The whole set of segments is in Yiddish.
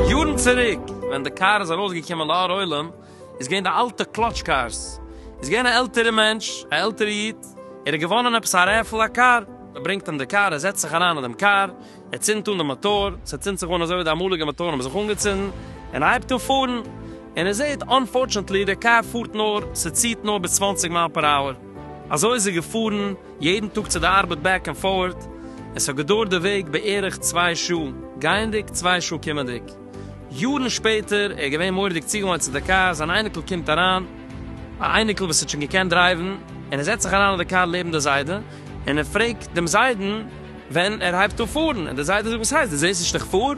יארן צוריק ווען די קאר איז ארויס געקומען לאור עולם איז געווען די אלטע קלאטש קארס איז געווען א עלטערע מענטש א עלטערע איד ער האט געוואנען עפעס א רעפעל א קאר מען ברענגט אים די קאר ער זעצט זיך אריין אין דעם קאר ער צינדט אן די מאטאר, ס'צינדט זיך אן אזוי ווי די אמאליגע מאטארן האבן זיך אנגעצינדן, און ער הייבט אן פארן, און ער זעט אנפארטשענטלי די קאר פארט נאר, ס'ציהט נאר ביז צוואַנציק מייל פער אווער. אזוי איז ער געפארן יעדן טאג צו די ארבעט בעק און פארט, און ס'האט געדויערט די וועג בערך צוויי שעה גייענדיג, צוויי שעה קומענדיג. יארן שפעטער, ער איז געווען מורא'דיג צוגעוואוינט צו די קאר, זיין אייניקל קומט אריין, א אייניקל וואס האט שוין געקענט דרייוון, און ער זעצט זיך אריין אין די קאר לעבן די זיידע, און ער פרעגט דעם זיידן, ווען ער הייבט אן פארן און די זיידע זאגט וואס הייסט דו זעסט נישט איך פאר? און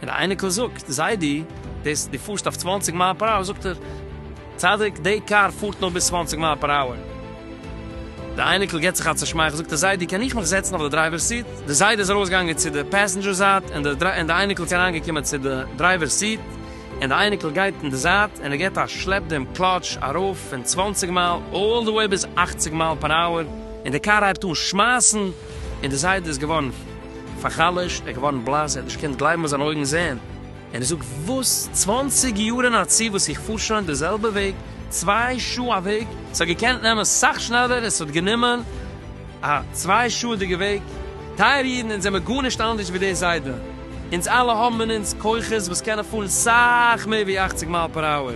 די אייניקל זאגט זיידי דאס דו פארסט אויף צוואַנציק מייל פער אווער זאגט ער צדיק די קאר פארט נאר ביז צוואַנציק מייל פער אווער די אייניקל גיבט זיך א צושמייכל זאגט ער זיידי קען איך מיך זעצן אויף די דרייווער סיט די זיידע איז ארויס געגאנגען צו די פעסענדזשער זייט און די און די אייניקל איז אריין געקומען צו די דרייווער סיט און די אייניקל גייט אין די זייט און ער גיבט א שלעפ דעם קלאטש ארויף פון צוואַנציק מייל אלל די וועי ביז אַכציק מייל פער אווער און די קאר הייבט אן שמייסן. און דער זיידע איז געווארן פאר'חלש'ט, ער איז געווארן בלאס, ער האט נישט געקענט גלייבן וואס זיינע אויגן זעען, און ער זאגט, וואס? צוואנציג יאר אין א צי וואס איך פאר שוין די זעלבע וועג, צוויי שעה א וועג, ס'האט געקענט נעמען סאך שנעלער און ס'האט גענומען א צוויי שעה'דיגע וועג, טייערע אידן אונז זעמער גארנישט אנדערש ווי דער זיידע, אונז אלע האבן אין אונז כוחות וואס קענען פארן סאך מער ווי אכציג מייל פער אווער.